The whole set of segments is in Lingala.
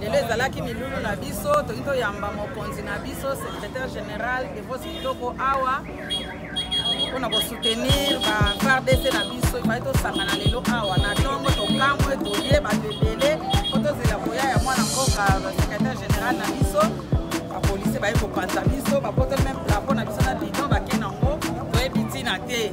lelo ezalaki milulu na biso toki toyamba mokonzi na biso secrétaire général devos kitoko awa mpo na kosoutenir ba fardc na biso efai tosangana lelo awa na ntongo tokamwe toye bato ebele mpo tozela koya ya mwana mboka secrétaire général na biso bapolisi baye kopanza biso bapotoli meme plapo na biso na bidon bake nango toyebi ntina te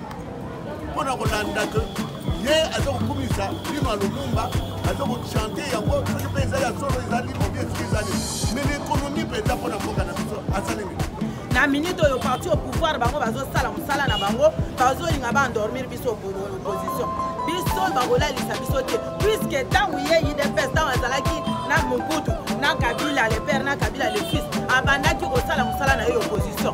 mpo na kolanda ke ye aza kokumisa lino ya lumumba aza kochante yango soki mpe eza ya solo eza lino bie soki eza nini mais l'économie mpenza mpo na mboka na biso asalemi na minute oyo parti au pouvoir bango bazosala mosala na bango bazolinga baendormir biso opposition biso bakolalisa biso te puiske ntango ye idps ntango azalaki na mobutu na kabila le père na kabila le fils abandaki kosala mosala na ye opposition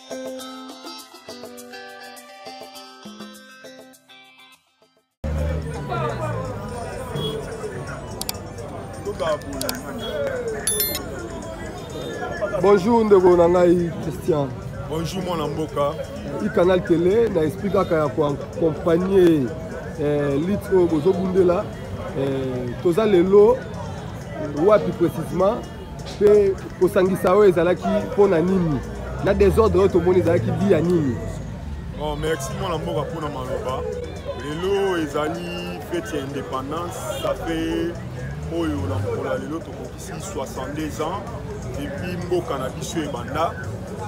bonjour ndeko na ngai christian bonjour mwana mboka i canal tele na esprit kaka ya koakompagne eh, lite oyo bozobundela eh, toza lelo wapi précisement mpe kosangisa oyo ezalaki mpo na nini na desordre oyo tomoni ezalaki bi ya nini oh, merci mwana mboka mpo na maloba lelo ezali fete ya indépendance ça fait oyo na mokolo ya lelo tokokisi 62 ans epuis mboka na biso ebanda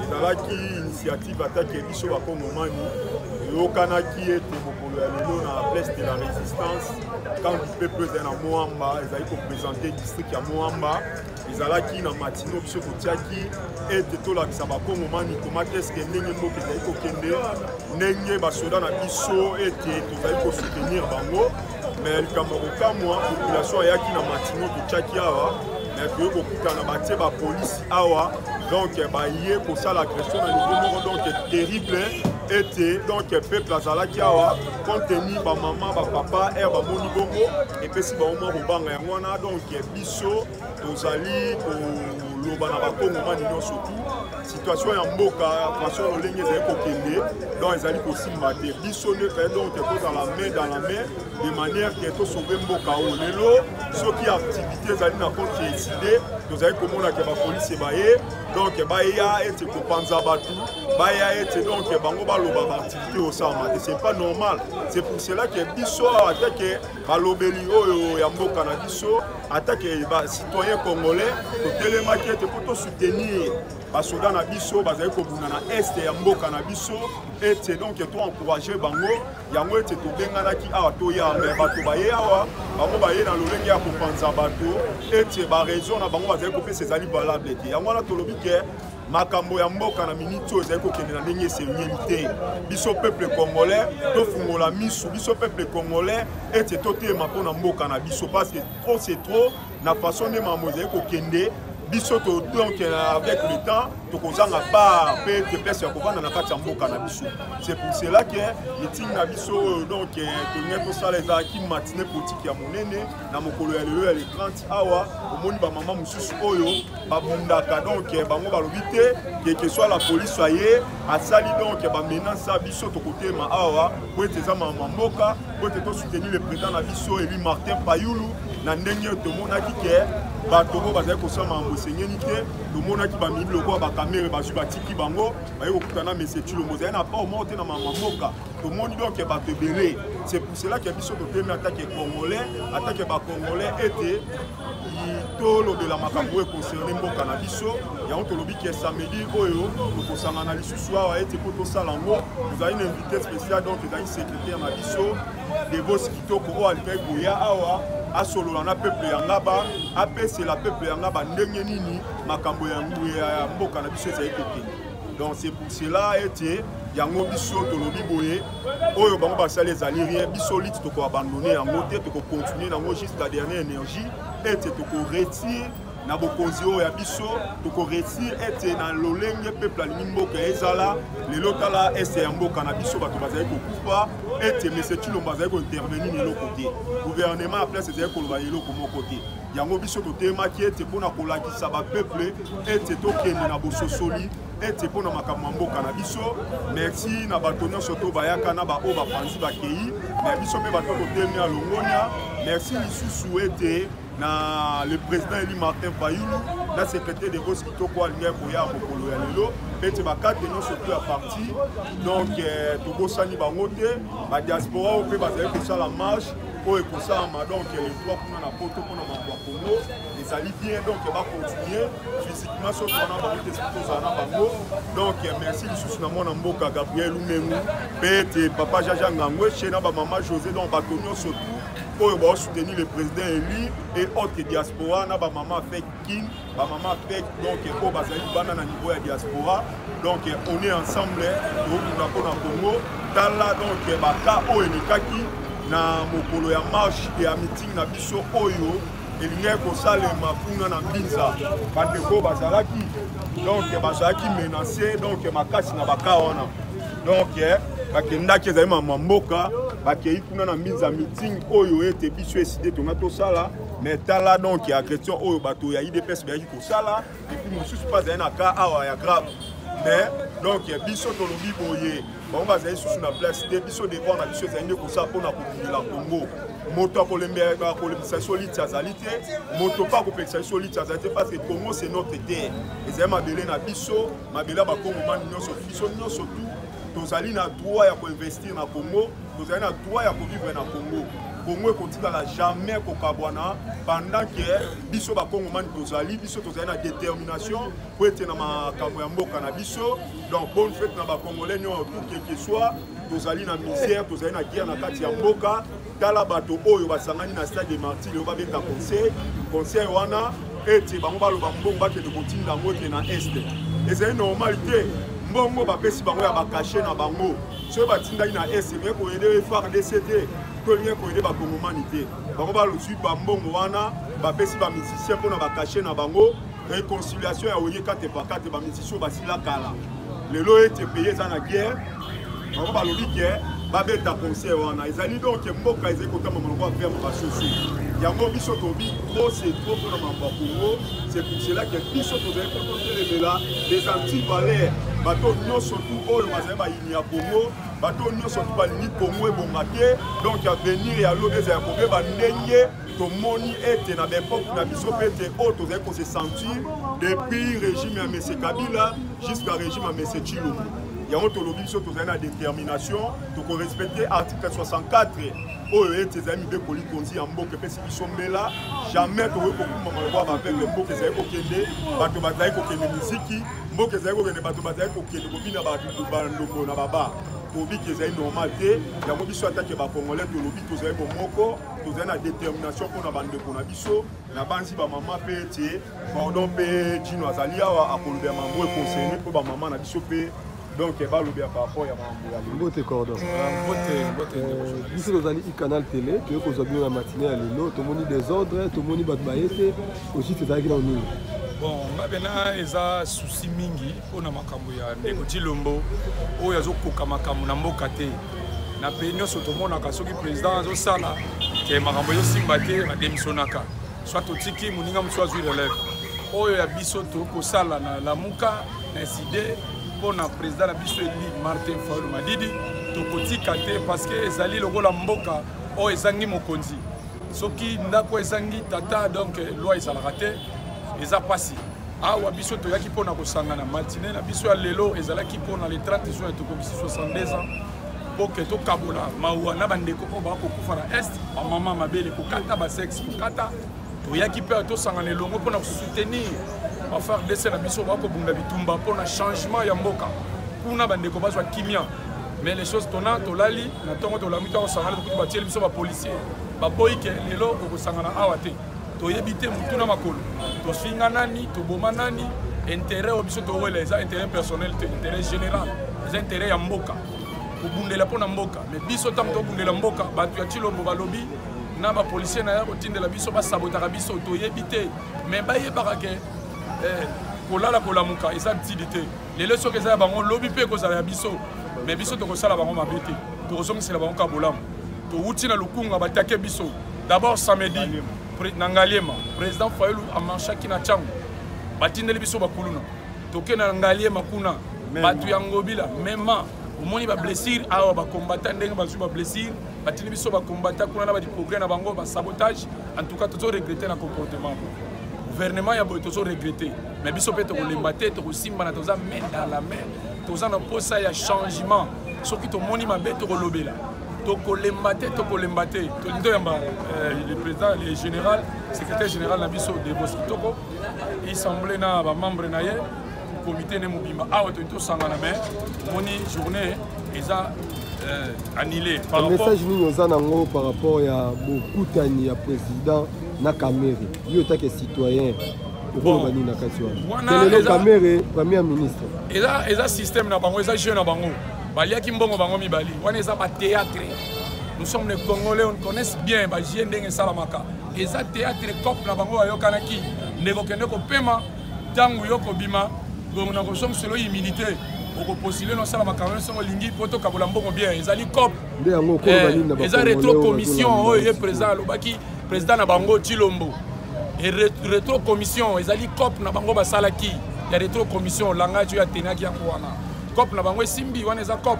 ezalaki initiative atake biso bakongomani eyokanaki ete mokolo ya lelo na place de la résistance camp du peuple ezali na moamba ezali kopresente district ya moamba ezalaki na matino biso kotiaki ete tolakisa bakongomani komaki eske ndenge mboka ezali kokende ndenge basoda na biso ete tozali kosoutenir bango me likambo ya kokamwa population ayaki na matino totiaki awa me toye kokutana batie bapolisi awa donc baye kosala agression na niveau moko donc terrible ete donc peuple azalaki awa contenu bamama bapapa ere bamoni bongo epesi bango mwa kobanga yango wana donk biso tozali koloba na bakongomani nyonso tu situation ya mboka façon lolenge ezali kokende donc ezali kosimba te biso nde pe donc tozala main dans la main de manière ke tosauve mboka oyo lelo soki activité ezali na contre eside tozali komona ke bapolisi baye donc baya ete kopanza bato baya ete donc bango baloba osama te c'est pas normal c'est pour cela que biso ata ke balobeli oyo ya mboka na biso ata ke bacitoyen congolais totelemaki ete mpo tosoutenir basoda na biso bazali kobunda na este ya mboka na biso ete donc toencourage bango yango ete tobenganaki awa toya me bato baye awa bango baye na lolenge ya kopanza bato ete baraison na bango bazali kopesa ezali valable te yango wana tolobi ke makambo ya mboka na miniti oyo ezali kokende na ndenge esengeli te biso peuple congolais tofungola misu biso peuple congolais ete totema mpo na mboka na biso parce que trop c'est trop na façon nde makambo ezali kokende biso donc euh, avec le temps tokozanga bar mpe te place ya kovanda na kati ya mboka na biso c'est pour cela que meeting na biso oyo euh, donc euh, tolingi tosala ezalaki matine politique ya monene na mokolo ya lelo ya le 30 awa omoni bamama mosusu oyo babundaka donc bango balobi te keke soit la polise aye asali donc bamenance ya biso tokotema awa po ete eza mama mboka po ete tosoutenir le président na biso eli martin payulu na ndenge tomonaki ke bato oyo bazali kosala makambo esengeli te tomonaki bamibi lokola bakamere bazwi batiki bango baye kokuta na mese cilombo ezali na port moko te na mama mboka tomoni donc bato ebele c'est pour cela ke biso totemi atake congolais atake bacongolais ete tolobela makambo oyo ekoserne mboka na biso yango tolobi ke samedi oyo tokosangana lisusu awa ete mpo tosala yango tozali na invité spécial donc ezali secrétaire na biso debos kitoko oyo alikaki koya awa asolola na peuple ya ngaba apesela peuple ya ngaba ndenge nini makambo ya mboka na biso ezali kokende donc c'est pour cela ete yango biso tolobi boye oyo bango basali ezali rien biso lite tokoabandone yango te tokocontinue yango jusqu'à dernière énergie ete tokoretire na bokonzi oyo ya biso tokoresir ete na lolenge peuple alingi mboka ezala lelo tala este ya mboka na biso bato bazali kokufa ete mese cilombo azali kointervenir na eloko te gouvernement ya place ezali koloba eloko moko te yango biso totelemaki ete mpo na kolakisa bapeple ete tokende na bososoli ete mpo na makambo ya mboka na biso merci na bato nyonso to bayaka na baoyo bapanzi bakei na biso mpe bato totelemi ya longonia merci lisusu ete na le président eli martin fayulu na secrétaire de bos kitoko alingai koya mokolo ya lelo ete bakate nyonso to ya parti donc eh, tobosani bango te badiaspora oyo mpe bazali kosala marche oyo ekosalama donc le 3 kuna na poto mpona mambo ya congo ezali bien donc bacontinue physiquement soki wana bango te soki tozala na bango donc merci lisusu na mwana mboka gabriel umengu mpe ete papa jaja ngangweshe na bamama josé donc bato nyonso tout oyo baosoutenir le président élu et autre diaspora na bamama fek kin bamama mpe donc oyo bazali libanda na niveau ya diaspora donc on est ensemble tokunda mpo na congo tala donc baka oyo elekaki na mokolo ya marche ya meeting na biso oyo elingaki kosalema kuna na mbinza bandeko bazalaki donc bazalaki menace donc makasi na baka wana donc bakendaki ezali mama mboka bakei kuna na mbinza meeting oyo ete biso eside tonga tosala mais tala donc ya agression oyo bato ya idps bayaki kosala epuis mosusu mpe azali na cas awa ya grave mais donc biso tolobi boye bango bazali susu na place te biso devoir na biso ezali nde kosala mpo na kobundela congo moto akolembelaka kolembisa biso liti azali te moto mpe akopekisa biso liti azali te parce que congo c'est notre terre ezali mabele na biso mabele ya bakongomani nyonso biso nyonso tout tozali na droit ya koinvestir na congo tozali na droit ya kovivre na congo congo ekotikala jamais kokabwana pendant ke biso bakongomani tozali biso tozali na détermination mpo ete na makambo ya mboka na biso donc bonne fete na bacongolais nyonso tout quelque soit tozali na misère tozali na guerre na kati ya mboka tala bato oyo basangani na stade de martir oyo babeta conseil conseil wana ete bango baloba mbongo bakende kotinda yango ete na este ezali normal te mbongo bapesi bango ya bakashe na bango soki batindaki na est ekoki koyede fardc te to elingi koyede bakongomani te bango balozwi bambongo wana bapesi bamusicien mpo na bakashe na bango réconciliation ya oye kate pakate bamusicien basila kala lelo ete peye eza na guerre bango balobi ke babeta concert wana ezali donke mboka ezali kotamba maloko avema basusu yango biso tobi trop se trop mpona mambo ya kongo se pour cela ke biso tozali kotelemela les antivaleurs bato nyonso tu oyo bazali bayini ya kongo bato nyonso tu balingi kongo ebonga te donk avenir ya lobi ezali kobeba ndenge tomoni ete na baepoke na biso mpe ete oyo tozali kose sentir depuis régime ya mese kabila jusqu'à régime ya mese chilombo yango tolobi biso tozali na détermination tokorespecte article 64 oyo ete ezali mibeko likonzi ya mboka epesi biso mbela jamais tokoki kokumba maloba ya bapeuple mboka ezali kokende bato bazali kokende miziki mboka ezali kokende bato bazali kokende kobina bandombo na baba kobiki ezali normal te yango biso atake bacongolais tolobi tozali bomoko tozali na détermination mpo na bandeko na biso nabanzi bamama mpe ete pardon mpe jino azali awa akolobela mambo ekonsene mpo bamama na biso mpe donc eh, balobi ya paraport ya makambo ya mbote cordon eh, biso tozali icanal tele toye kozwa bino na matine ya lelo tomoni desordre tomoni bato baye te ojite ezalaki na nini bon nga pena eza susi mingi mpo na makambo ya ndeko tilombo oyo azokoka makambo na mboka te na pays nyonso tomonaka soki président azosala ke makambo ezosimba te bademisionaka soit totiki moninga mosusu azwi relève oyo ya biso tokosala na lamuka incide mpo na président na biso eli martin faul madidi tokotika te parce que ezali lokola mboka oyo ezangi mokonzi soki ndako ezangi tata donc loi ezalaka te eza mpasi awa biso toyaki mpo na kosangana matine na biso ya lelo ezalaki mpo na le 30 juin tokokisi 62 ans boke tokabola mawa na bandeko oyo bakokufa na est bamama mabele kokata basexe kokata toyaki mpe tosangana elongo mpo na kosoutenir bafardc na biso bakobunda bitumba mpo na changement ya mboka kuna bandeko bazwa kimia mais les choses tona tolali na ntongo tolami to kosangana tokuti batieli biso bapolicier baboyi ke lelo okosangana awa te toyebi te motu na makolo tofinga nani toboma nani intérêt oyo biso towela eza intérêt personnel te intérêt général eza intérêt ya mboka kobundela mpo na mboka mais biso ntango tobundela mboka bato ya cilombo balobi na ba policier na ya kotindela biso basabotaka biso toyebi te mais bayebaka ke eh, kolala kolamuka eza ntidi te lelo soki eza ya bango lobi mpe ekozala ya biso mais biso tokosala bango mabe te tokozongisela bango ka bolamu towuti na lukunga batake biso d'abord samedi na ngaliema président fayulu amarchaki na ntango batindeli biso bakuluna tokenda na ngaliema kuna bato ya ngobila mema omoni bablessire awa bakombata ndenge bazwi bablessire batindi biso bakombata kuna na badeprogrès na bango basabotage en tout cas tozo regrete na comportement gouvernement ya boye tozo regrete mais biso mpe tokolemba te tokosimbana toza main dans la main toza na mposa ya changement soki tomoni mabe tokolobela tokolemba te tokolemba te tolingi toyamba euh, le président le général secrétaire général na biso debos kitoko isemble na bamembre na ye komite ne mobimba awa toyi tosangana me moni journée eza euh, annulé message nini oza nango par rapport ya bokutani ya président na kamere yo etake citoyen okoloba nini na kati wana lelo kamere premier ministre eza système na bango eza jeu na bango baliaki mbongo bango mibali wana eza batéâtre nous sommes les congolais on connaisse bien bajie ndenge esalamaka eza téâtre cope na bango bayokanaki ndeko kende kopema ntango yo kobima donc na kosongiselo humilité okopostule nosala makambo nyonso olingi mpo tokabola mbongo bien ezali cop eh, eza retro commission oyo ye président alobaki président na bango tilombo e retro commission ezali cop na bango basalaki ya retro commission langage oyo atenaki yango wana cop na bango esimbi wana eza cop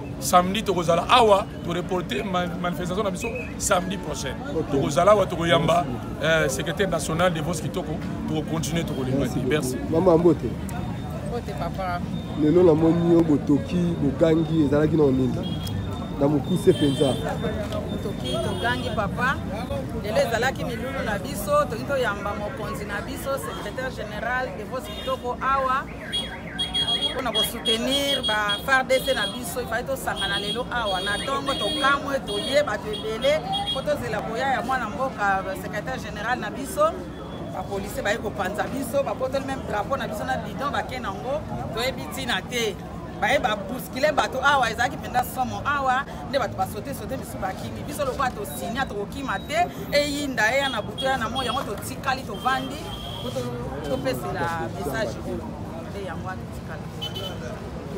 samedi tokozala awa toreporte manifestation na biso samedi prochaine tokozala awa tokoyamba euh, secrétaire national de vos kitoko tokocontinue tokolemba te merci mama mbote mbote papa lelo namoni yo botoki bogangi ezalaki na onini na mokuse mpenza toki togangi papa lelo ezalaki milulu na biso toki toyamba mokonzi na biso secrétaire général de vos kitoko awa mpona kosoutenir bafardc na biso ifai tosangana lelo awa na ntongo tokamwe toye bato ebele mpo tozela koya ya mwana mboka secrétaire général na biso bapolisier baye kopanza biso babotoli meme drapeau na biso na bidon bake nango toyebi ntina te baye babuskile bato awa ezalaki mpenza somo awa nde bato basote sote misusu bakimi biso lokola tosinya tokokima te eyinda eya na butu eya na moi yango totikali tovandi topesela message oyo nde yango wana tikala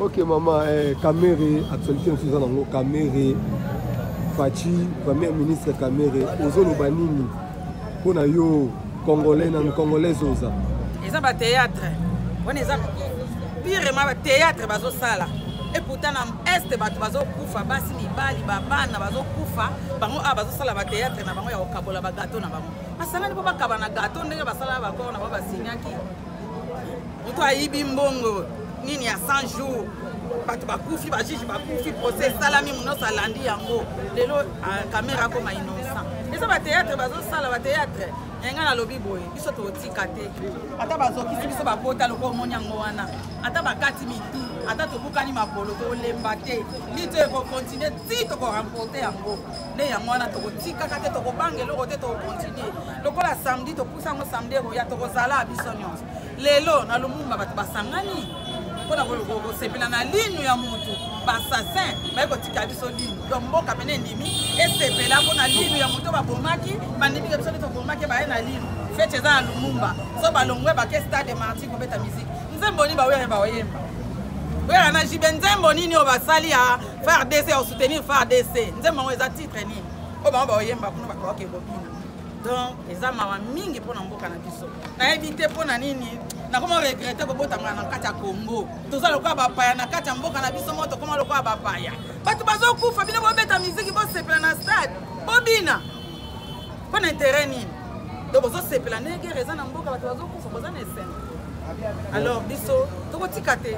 ok mama eh, kamere actualité mosusu eza nango kamere faci premier ministre kamere ozoloba nini mpo na yo congolais nanu congolaise oza eza bateatre wana eza pirema bateatre bazosala epouta na este bato bazokufa basi mibali babana bazokufa bango awa bazosala bateatre na bango ya kokabola bagato na bango basangani mpo bakaba na gato ndenge basala bakor na bango basinyaki moto ayibi mbongo nini ya 100 jours bato bakufi bajuge bakufi procès esalami monoso alandi yango lelo ah, kamera akoma innocent eza bateatre bazosala bateatre enga nalobi boye biso totika te ata bazokisi biso bakota loko omoni yango wana ata bakati mitu ata tobukani makolo tolemba te lito ekokontinue ti tokoremporte yango nde yango wana tokotikaka te tokobanga eloko te tokokontinue lokola samedi topusa yango samedi ekoya tokozala biso nyonso lelo na lumumba bato basangani mpo na kosepela na linu ya motu basasin baye kotika biso linu donc mboka pene endimi esepela mpo na linu ya motu babomaki bandimika biso nde tobomaki baye na linu fete eza na lumumba so balongwe bake stade martin kobeta miziki nzembo nini baoyo baoyemba oyaka na jibe nzembo nini oyo basali ya fardc au soutenir fardc nzembo yango eza titre nini oyo bango baoyemba kuna bakoke kobina donc eza mawa mingi mpo na mboka na biso nayebi te mpo na nini nakoma regrete kobotamaka na kati ya congo toza lokola bapaya na kati ya mboka na biso moko tokoma lokola bapaya bato bazokufa bino bobeta miziki bosepela na stade bobina mpo na intere nini do bozosepela ndegere eza na mboka bato bazokufa boza na esengo alors biso tokotika te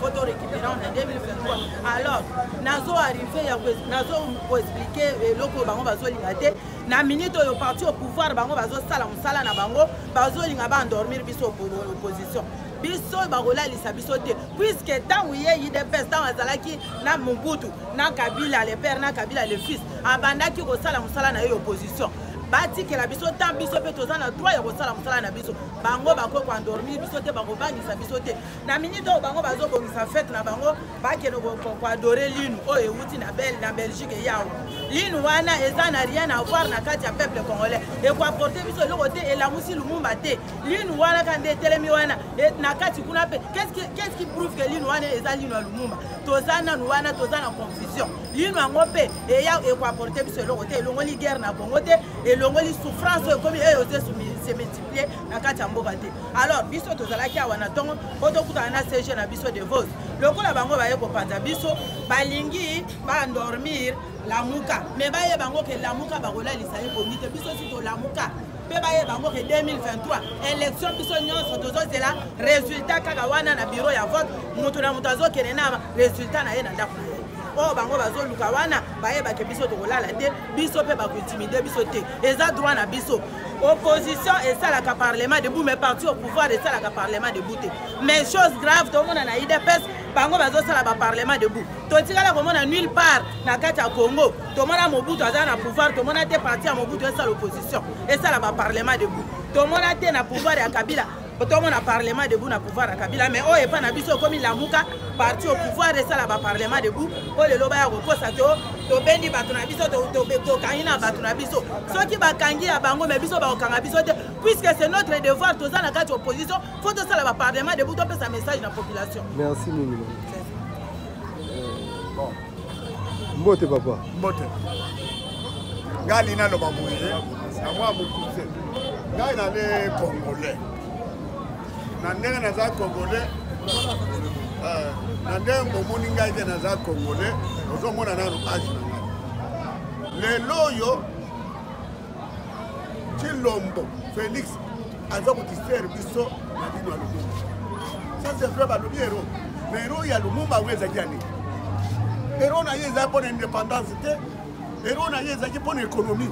po to récupérant na 2023 alors nazo arrive ya nazo koexplike eloko oyo bango bazolinga te na minute oyo parti au pouvoir bango bazosala mosala na bango bazolinga baendormir biso opposition biso bakolalisa biso te puiske ntango ye idps ntango azalaki na mobutu na kabila le père na kabila le fils abandaki kosala mosala na ye opposition batikela biso ntan biso mpe toza na droit ya kosala mosala na biso bango bakoki koendormir biso te bakobangisa biso te na minute oyo bango bazobongisa fete na bango bakende koadore linu oyo euti na bel na belgique yawo linu wana eza na rien avoir na kati ya peuple congolais ekoaporte biso eloko te elamusi lumumba te linu wana ka nde etelemi wana e, na kati kuna mpe qu'est-ce qui prouve que linu wana eza linu ya lumumba toza nanu wana toza na confusion linu yango mpe eya ekoaporte biso eloko te elongoli guerre na congo te elongoli souffrance oyo ekomi eyo oze se multiplier na kati ya mboka te alors biso tozalaki awa na ntongo mpo tokutana na cg na biso de vos lokola bango baye kopanza biso balingi bandormir lamuka me baye bango ke lamuka bakolalisa ye pongi te biso si tolamuka mpe baye bango ke 2023 élection biso nyonso tozozela résultat kaka wana na biro ya vote moto na moto azokende na résultat na ye na ndako na ye oyo bango bazoluka wana bayebake biso tokolala te biso mpe bakointimide biso te eza droit na biso opposition esalaka parlement debout mais parti au pouvoir esalaka parlement debout te mais chose grave tomona na idps bango bazosala baparlement debout totikala komona nulle part na kati ya congo tomona mobutu aza na pouvoir tomona te parti ya mobutu esala opposition esala baparlement debout tomona te na pouvoir ya kabila otomona parlement debout na pouvoir ya kabila mais oyo epai na biso okomi lamuka parti au pouvoir esala baparlement debout mpo lelo baya kokosa to tobendi bato na biso tokangi na bato na biso soki bakangi ya bango me biso bakokanga biso te puisque c'est notre devoir toza na kati opposition fo tosala baparlement debout topesa message na population merci mingi mbote papa mbote ngai alingi naloba boye na mwa mokuse ngai nale congolais na ndenge naza congolais eh, na ndenge bomoni ngai te naza congolais ozomona nano age na ngai lelo oyo cilombo félix aza kotiser biso na bino ya lumumba ça c'est vrai balobi hero na hero ya lumumba yango ezalaki ya nini hero na ye ezalaki mpo na indépendance te hero na ye ezalaki mpo na économie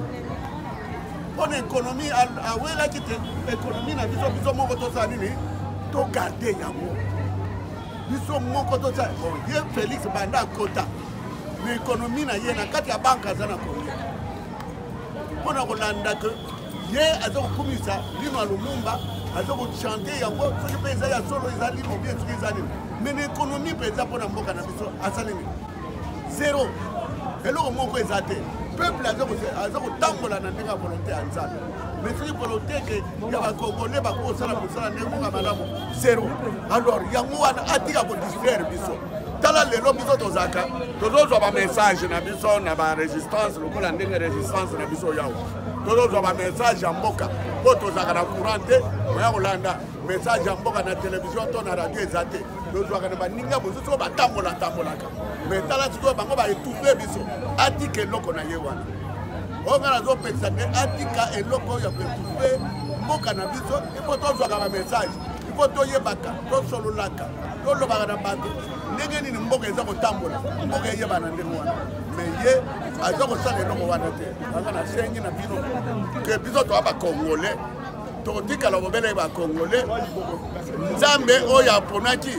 mpo na économie awelaki te économie na biso biso moko tosala nini togarde yango biso moko tosala ye félix banda akota na économie na ye na kati ya banke aza na kongo mpo na kolanda ke ye aza kokumisa lino ya lumumba aza kochante yango soki mpe eza ya solo eza limo bien soki eza nini me na ekonomi mpenza mpo na mboka na biso asali nini zero eloko moko eza te peuple aza kotambola na ndenge ya volonté ya nzambe me soki volonté ke ya bakongole bakosala mosala ndenge moka malamu zero alors yango wana atika kodistraire biso tala lelo biso tozalaka tozozwa bamessage na biso na barésistance lokola ndenge résistance na biso yawa tozozwa bamessage ya mboka mpo tozalaka na courant te oya kolanda message ya mboka na televizio to na radio eza te tozwaka na baninga mosusu oyo batambolatambolaka me tala sikoyo bango baetufe biso atika eloko na ye wana oyo ngai nazopekisa te atika eloko oyo ya koetufe mboka na biso ipo tozwaka bamessage ipo toyebaka tosololaka tolobaka na bato ndenge nini mboka eza kotambola mboka eyebana ndenge wana me ye aza kosala eloko wana te anga nasengi na bino ke biso toa bacongolais tokotikala kobele bacongolais nzambe oyo aponaki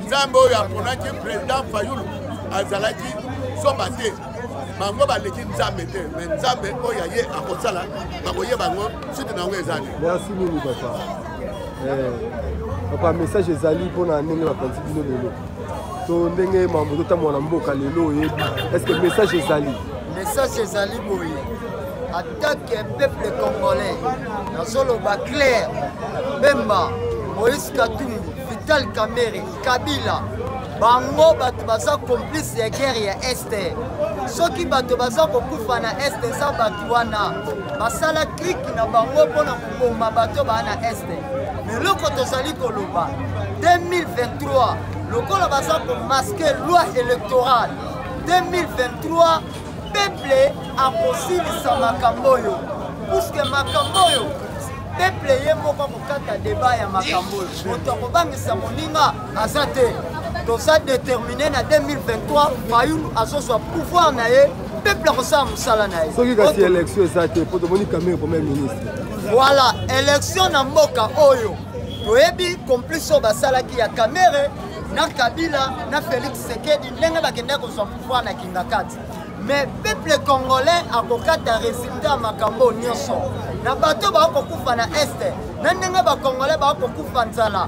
nzambe oyo aponaki président fayulu azalaki soba te bango baleki nzambe te me nzambe oyo aye akosala bakoyeba yango site na yango ezali papa eh, message ezali mpona ndenge bapanzi bino lelo to ndenge mambo totambola na mboka lelo oyebi estce message ezali message ezali boye atake peuple congolais nazoloba claire bemba moïse katumbi vital kamere kabila bango bato baza complice ya guerre ya este soki bato baza kokufa na este eza bato wana basala klike na bango mpo na koboma bato baa na este me eloko tozali koloba 2023 lokola baza komaske loi électorale 2023 peple akosilisa makambo oyo puske makambo oyo peple ye moko akokata deba ya makambo oyo moto akobangisa moninga aza te toza déterminé na 2023 fayulu azozwa pouvoir na ye peuple akosala mosala na ye soki kasi élection eza te mpo tomoni kamere premier ministre voilà élection na mboka oyo toyebi complice oyo basalaki ya kamere na kabila na félix sekedi ndenge bakendaki kozwa pouvoir na kingakati mais peuple congolais akokata résultat ya makambo nyonso na bato bakokufa na este na ndenge bacongolais bakokufa nzala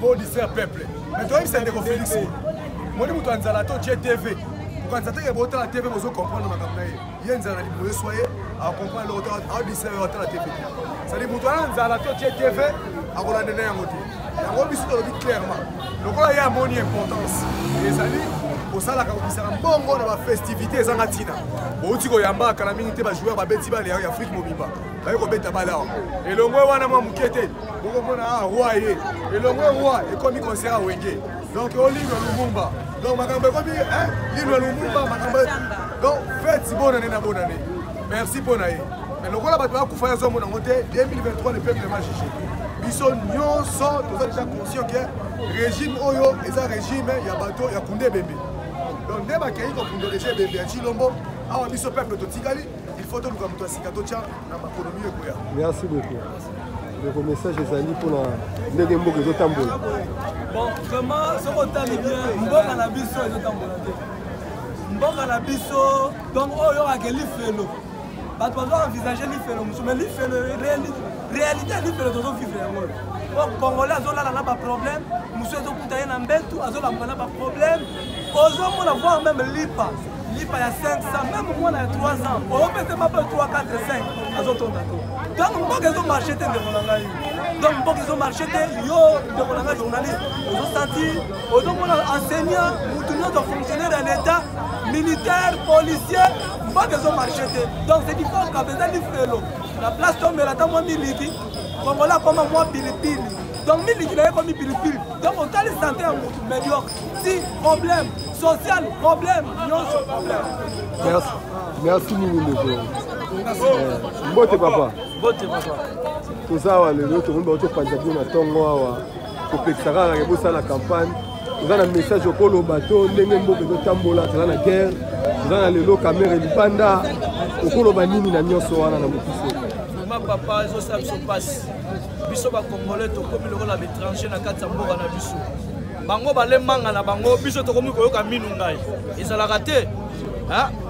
po distraire peuple mais toyebisa ndeko félix moni moto ya nzala to je tv kokanisa teke botala tv bozo comprendre makambo na ye ye nzala na libumu eswa ye acomprendre loko aodistraire yo atala tv sadi moto wana nzala to je tv akolanda na yango te yango biso tolobi clairement lokola ye amoni importance ezali kosalaka kobisaka mbongo na bafestivité ezanga ntina bouti koyambaka kala mingi te bajoueur babeti bale ya afrique mobimba baye kobeta bale awa elongwe wana mwa moke te bokomona a ah, roi ye elongo roi ekomi concert ya wenge donc olino lumumba donc makambo ekomi lino lumumba makambo donc feti bonane na bonane merci mpo na ye mais lokola bato bakufa ya zomo nango te 2023 le peuple ma juge biso nyonso toza déjà conscient ke régime oyo eza régime ya bato ya kunde ebembe donc nde bakei kokundolese ebembe ya cilombo awa biso peuple totikali il faut toluka moto ya sika totya na makolo miyo ekoya merci beaucoup ndeko message ezali mpona ndenge mboka ezotambola bon vraiment soki otali bien mboka na biso ezotambola te mboka na biso donc oyo oyokake lifelo bato bazo envisage lifelo mosusu mais lifelo réalité ya lifelo tozovivre yango oyo po congolais azolala na baproblème mosusu ezokuta ye na mbetu azolamuka na baproblème ozomona voir meme lipa lipa ya 500 meme mwana ya 3 ans opese mapa 3 4 5 azotonda to donc mboka ezomarche te ndeko na ngai donc mboka ezomarche te yo ndeko na ngai journaliste ozosanti ozomona enseignant motu nyonso fonctionnaire ya l'état militaire policier mboka ezomarche te donc c'est du fort kabe eza lifelo na place tomela ata mwa miliki kongola akoma mwa pilipili donc miliki na ye ekomi pilipili donc otali sante ya motu mediocre si problème social problème nyonso problème merci merci mingi ndeko eh, mbote papa mbote papa toza awa lelo tomoni bango topanza bino na ntongo awa kopekisa kaka ke bosala campagne oza na message okoloba to ndenge mboka ezotambola toza na guerre toza na lelo kamere libanda okoloba nini na nyonso wana na mokuse papa ezosala biso mpasi biso bakongole tokomi lokola baétranger na kati ya mboka na biso bango balembanga na bango biso tokomi koyoka minu ngai ezalaka te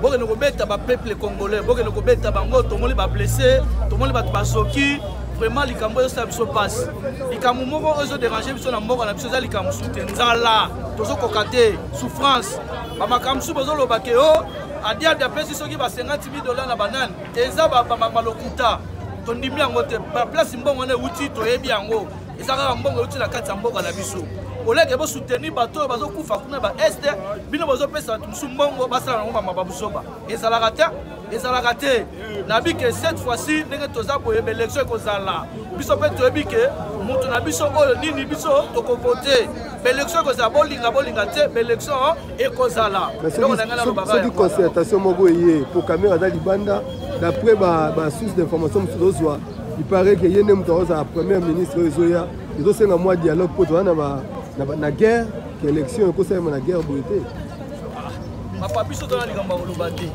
bokende kobeta bapeuple congolais bokende kobeta bango tomoni bablesse tomoni bato basoki vraiment likambo ezosala biso mpasi likambo moko oyo ezoderange biso na mboka na biso eza likambo mosusu te nzala tozokoka te souffrance bamakambo mosusu bozoloba ke o oh, adiabi apesi soki ba 50 000 dollars na banani eza balokuta tondimi yango te baplace mbongo wana euti toyebi yango eza kaka mbongo euti na kati ya mboka na biso oleke bosoutenir bato oyo bazokufa kuna ba este bino bozopesa bato mosusu mbongo basala nango mamaba buzoba ezalaka te ezalaka te nayebi ke cette fois-ci ndenge toza boye baelektio ekozala biso mpe toyebi ke moto na biso oyo nini biso tokovote baelektio ekozala bolinga bolinga te baelektio ekozala soki concertation moko eye po kamera aza libanda d'après basource d'information mosusu tozwa Il paraît que ye nde moto akozala première ministre oyo ezoya ezosenga mwa dialogue mpo toza na guerre ke élection ekosalema na guerre boye te papa biso tona likambo ya koloba te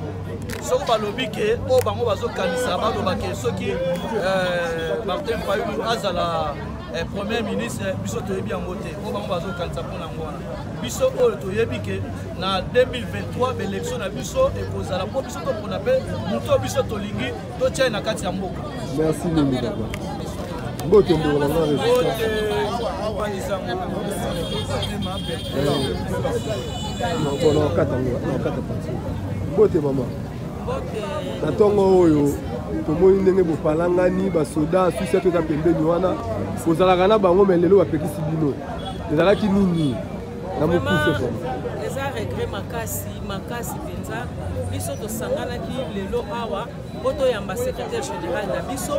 soki balobi ke oyo bango bazokanisa baloba ke soki euh, martin fayulu azala eh, premier ministre biso toyebi yango te oyo bango bazokanisa mpo na yango wana biso oyo toyebi ke na 2023 baélection na biso ekozala mpo biso topona mpe moto biso tolingi totyai na kati ya mboka merci mingi papa mbote mboka na resistanaokata pati mbote mama na ntongo oyo tomoni ndenge bopalangani basoda susi ato eza pembeni wana kozalaka na bango me lelo bapekisi bino ezalaki nini eza regret makasi makasi mpenza biso tosanganaki lelo awa mpo toyamba secrétaire général na biso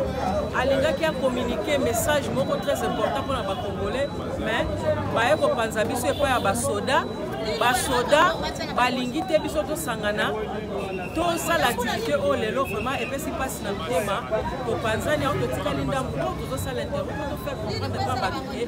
alingaki akominike message moko très important mpo na bacongolais mais baye kopanza biso epai ya basoda basoda balingi te biso tosangana tosala activité oyo oh, lelo vraiment epesi mpasi na motema topanzani yango totikali ndambo mpo tozosala interview mpo tofaire comprendre mpa bato te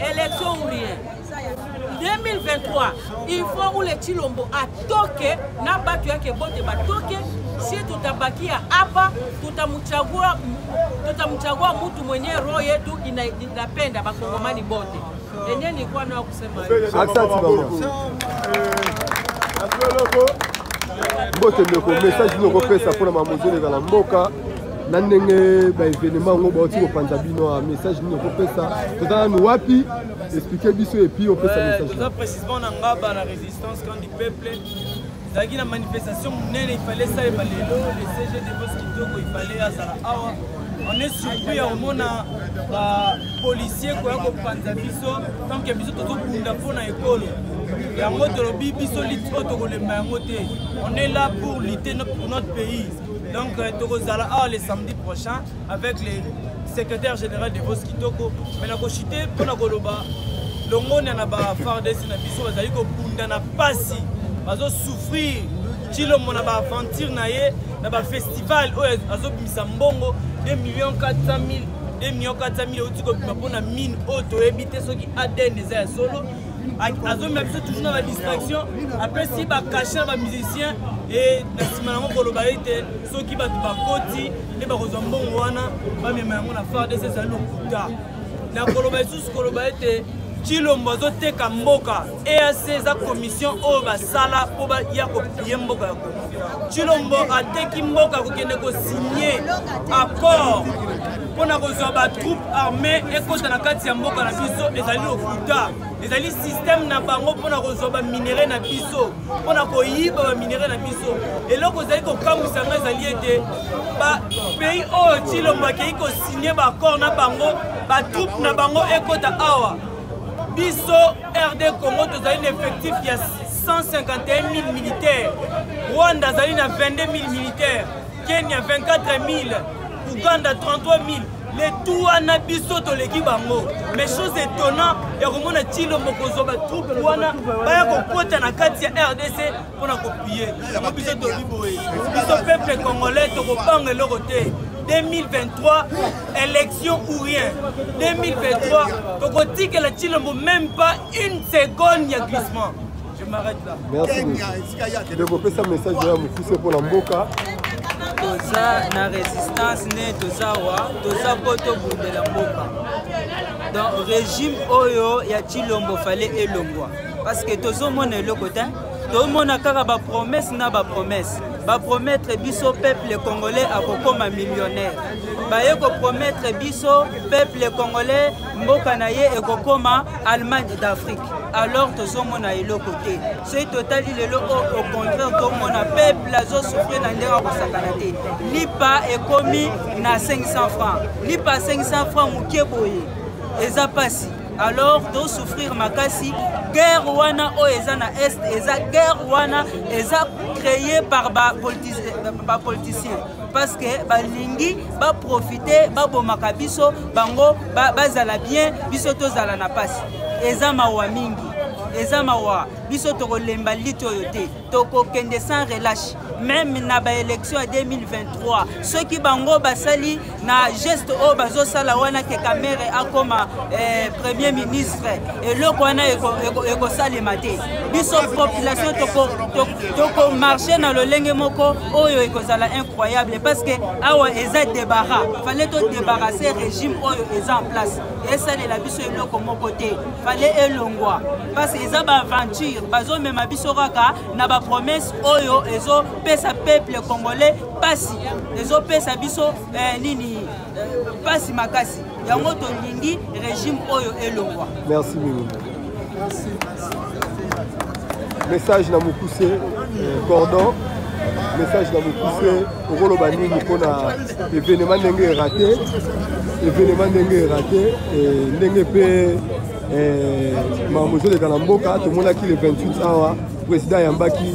Élection ou rien. 2023, il faut où les Chilombo à toquer, n'a pas tué que botte va toquer, si tout a baki à apa, tout a mouchagua, tout a mouchagua, moutou mouné, roye, tout, il a la peine d'avoir commandé botte. Et n'y a ni quoi, non, c'est mal. Accent, tu vas mbote ndeko message nokopesa mpona mamozo elekala mboka na ndenge baevenema yango bauti kopanza bino a message nini okopesa toza nanu wapi explike biso epuis opesa messagetoza précisement na ngaba na résistance camp du peuple ezalaki na manifestation monene ifale esalema lelo le cg devos kitoko ifale azala awa on est surpris ya komona bapolicier koya kopanza biso tanke biso tozobunda mpo na ekolo yango tolobi biso lite oyo tokolemba yango te on est là pour lutter pour notre pays Donc, euh, Tokozala, ah, le samedi prochain, avec les secrétaires généraux de Vox Kitoko, mais la cochité, pour la Goloba, longonia na ba fardesi na biso bazali kobunda na mpasi bazosouffrir cilombo na baaventure na ye na bafestival oyo azobimisa mbongo 2 million 400 000 2 million 400 000 euti kobima mpo na mine oyo toyebi te soki adn eza ya solo azomema biso toujours na badistraction apesi bacashe na bamusicien e na nsima yango koloba ete soki bato bakoti nde bakozwa mbongo wana bamema yango na fardes ezali lokuta na koloba lisusu koloba ete cilombo azoteka mboka eac eza commission oyo basala mpo baya kopie mboka ya cilombo ateki mboka kokende kosigne accord mpo na kozwa batroupe armée ekota na kati ya mboka na biso ezali lokuta ezali systeme na bango mpo na kozwa baminere na biso mpo na koyiba baminere na biso eloko ezali kokamwisa ngai ezali ete bapays oyo cilombo akei kosigne baaccord na bango batroupe na bango ekota awa biso rd congo tozali na effectif ya 151 000 militaire rwanda azali na 22 000 militaire Kenya 24000, Ouganda 33000. le tout wana biso toleki bango mais chose étonnant ya komona cilombo kozwa batroupe wana baya kokota na kati ya rdc mpo na kopie yango biso toli boye biso peuple congolais tokobanga eloko te 2023 élection ou rien 2023 tokotikela cilombo même pas une seconde ya glissement merci ndeko opesa message ya mokuse mpo na mboka toza na resistance nde toza wa toza mpo tobundela mboka donc régime oyo ya cilombo fale elongwa parce que tozomona eloko te tomona kaka bapromese na bapromese bapromettre biso peuple congolais akokoma millionnaire baye kopromettre biso peuple congolais mboka na ye ekokoma allemagne d'afrique alors tozomona eloko te soki totali lelo o au contraire tomona peuple azosouffrir na ndenge akosakana te lipa ekomi na 500 francs lipa 500 francs moke boye eza mpasi alors tosouffrir makasi guerre wana oyo eza na est eza guerre wana eza créé par bapoliticien ba parce que balingi baprofite babomaka biso bango bazala ba bien biso tozala na mpasi eza mawa mingi eza mawa biso tokolemba lite oyo te tokokende sans relâche meme na baélection ya 2023 soki bango basali na geste oyo bazosala wana ke kamere akoma eh, premier ministre eloko wana ekosalema te biso population tokomarche toko na lolenge moko oyo ekozala incroyable parce que awa eza debara fale to debarase régime oyo eza en place esalela biso eloko moko te fale elongwa parce que eza baaventure bazomema biso kaka na bapromesse oyo ezopesa peuple congolais mpasi ezopesa biso eh, nini mpasi makasi yango tolingi regime oyo elongwa merci mingi message na mokuse euh, cordon message na mokuse okoloba nini mpo na evenema ndenge erate evenema ndenge erate ndenge mpe eh, makambo ezoleka na mboka tomonaki le 28 awa président ayambaki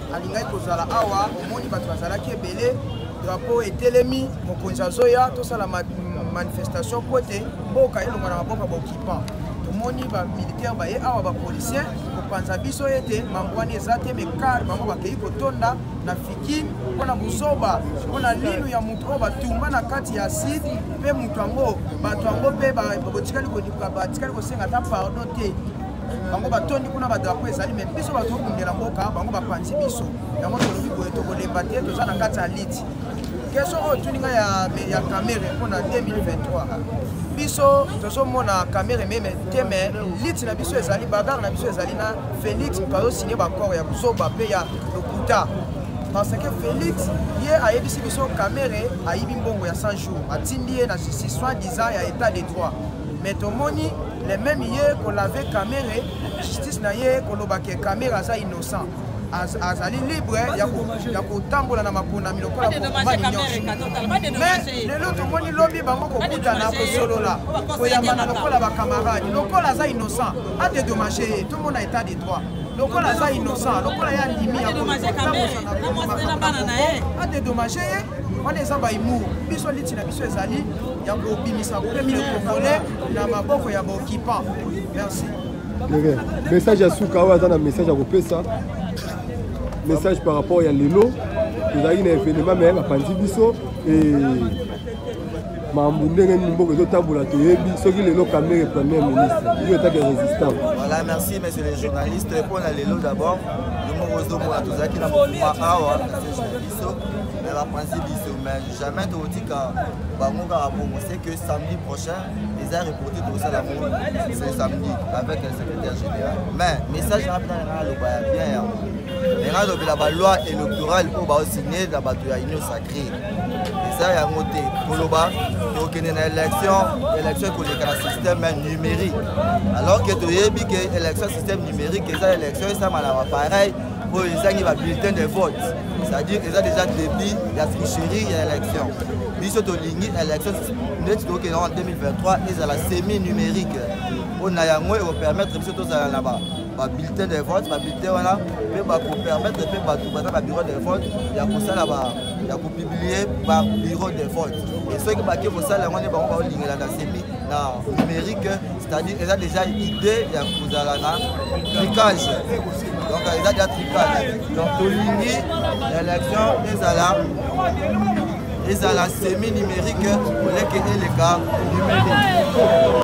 alingaki kozala awa omoni bato bazalaki ebele drapo etelemi mokonzi azoya tosala manifestation mpo ete mboka elonga na maboko ya baoccupant tomoni bamilitaire baye awa bapolicien kopanza biso ete mambo wana eza te mekar bango bakei kotonda na fikine mpo na buzoba mpo na linu ya moto oyo batumba na kati ya side mpe moto yango bato yango mpe batikali kosenga ata pardon te bango batondi kuna badrapo ezali me biso bato tokundela mboka bango bapanzi biso yango tolobi boye tokolemba te toza na kati ya liti keso oyo tuni ngai ya kamere mpo na 2023 biso tozomona kamere meme te me liti na biso ezali bagare na biso ezali na félix moto azosigne bakore ya buzoba mpe ya lokuta parce que félix ye ayebisi biso kamere ayibi mbongo ya 100 jours atindi ye na justice soit disant ya état de droit mais tomoni le même ye kolave kamere justice na ye koloba ke kamere aza innocent azali libre ya kotambola na maponami lokola mais lelo tomoni lobi bango kokutana kosolola koyambana lokola bakamarade lokola aza innocent adedommage ye tomona état de droit lokola aza innocent lokola ye andimi adedommage ye wana eza baimour biso liti na biso ezali ya kobimisa premier congolais na maboko ya baoccupant merci message ya suka oyo aza na message ya kopesa message par rapport ya lelo tozalaki na evenema me bapanzi biso mambo ndenge nini mboka ezotambola toyebi soki lelo kamere premier ministre yo etaki ya résistant voilà merci monsieur le journaliste mpo na lelo d'abord yo moko ozomona tozalaki na mokuma awa biso me bapanzi biso jamais tokotika bango kaka bongo c'est que samedi prochain eza reporte tokosala ngo ce samedi avec le secrétaire général mais message na bina nanga aloba ya bien yango nanga alobela baloi électorale oyo baosigne na bato ya union sacré eza yango te koloba tokende na élection élection ekoleka na système numérique alors que toyebi ke élection système numérique eza élection esamala bapareil oyo ezangi ba bulletin de vote c'est-à-dire eza déjà début ya tricherie ya élection biso tolingi élection ndeti tokokenda en 2023 ezala semi numérique mpo na yango ekopermettre biso tozala na ba babulletin de vote babulletin wana mpe bakopermettre mpe bato baza na bureau de vote ya kosala ya kopublie babureau de vote e soki bake kosala yango nde bango baolingela na semi na numérique c'est-à-dire eza déjà idée ya kozala na tricage donc eza déjà tricage donc tolingi élection ezala ezala semi numérique oleke eleka numérique